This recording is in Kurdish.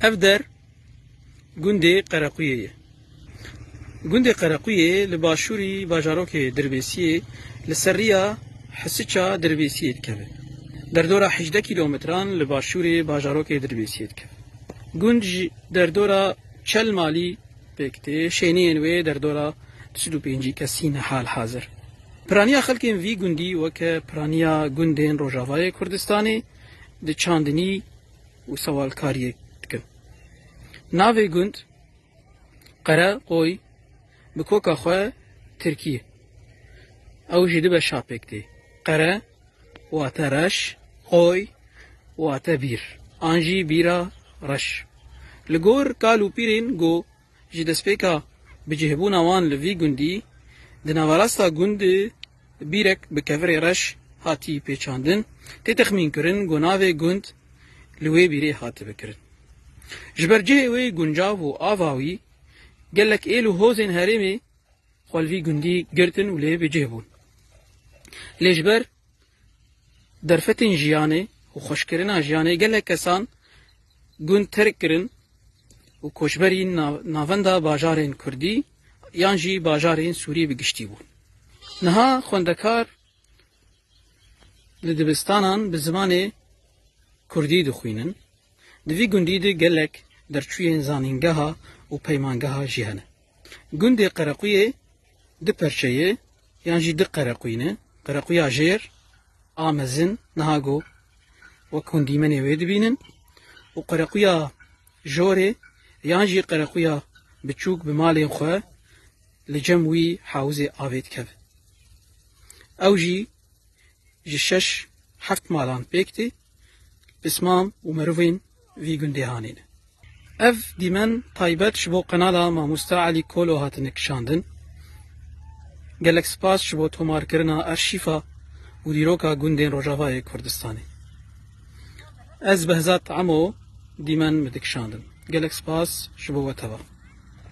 Ev der gundê Qerequyê ye. Gundê Qerequyê li başûrî bajarokê Dirbêsiyê li ser riya Hisiça Dirbêsiyê dikeve. Derdora hejdeh kîlometran li başûrê bajarokê Dirbêsiyê dikeve. Gund ji derdora çel malî pêk tê, şêniyên wê derdora du sed û pêncî kesî ne halhazir. Piraniya xelkên vî gundî weke piraniya gundên Rojavayê Kurdistanê di çandinî û sewalkariyê dikin. Navê gund Qere Qoy bi koka xwe tirkî ye. Ew jî dibe şapêk tê. Qere wate reş, qoy wate bîr an jî bîra reş. Li gor kal û pîrên go Ji destpêka bicihbûna wan li vî gundî, di naverasta gund bîrek bi kevirê reş hatî pêçandin, tê texmînkirin ku navê gund li wê bîrê hatibe kirin. Ji ber cihê wê guncav û ava wî, gelek êl û hozên herêmê xwe li vî gundî girtin û lê bicih bûn. Lê ji ber Derfetên jiyanê û xweşkirina jiyanê gelek kesan gund terk kirin û koçberî navenda bajarên kurdî yan jî bajarên sûrî bi giştî bûn. Niha xwendekar li dibistanan bi zimanê kurdî dixwînin. Di vî gundî de gelek derçûyên zanîngeha û peymangeha jî hene. Gundê Qerequyê du perçe ye yan jî du qerequy ne. Qerequya jêr a mezin niha go wek hûn dîmenê wê dibînin û qerequya jorê yan jî qerequya biçûk bi malên xwe li cem wî hewizê avê dikeve. Ew jî ji şeş heft malan pêk tê, pisman û mirovên vî gundê hanîne. Ev dîmen taybet ji bo qenala Mamosta Elî Kolo hatine kişandin. Gelek spas ji bo tomarkirina arşîfa û dîroka gundên Rojavayê Kurdistanê. Ez Behzat Emo dîmen me dikişandin. Gelek spas ji bo we teva.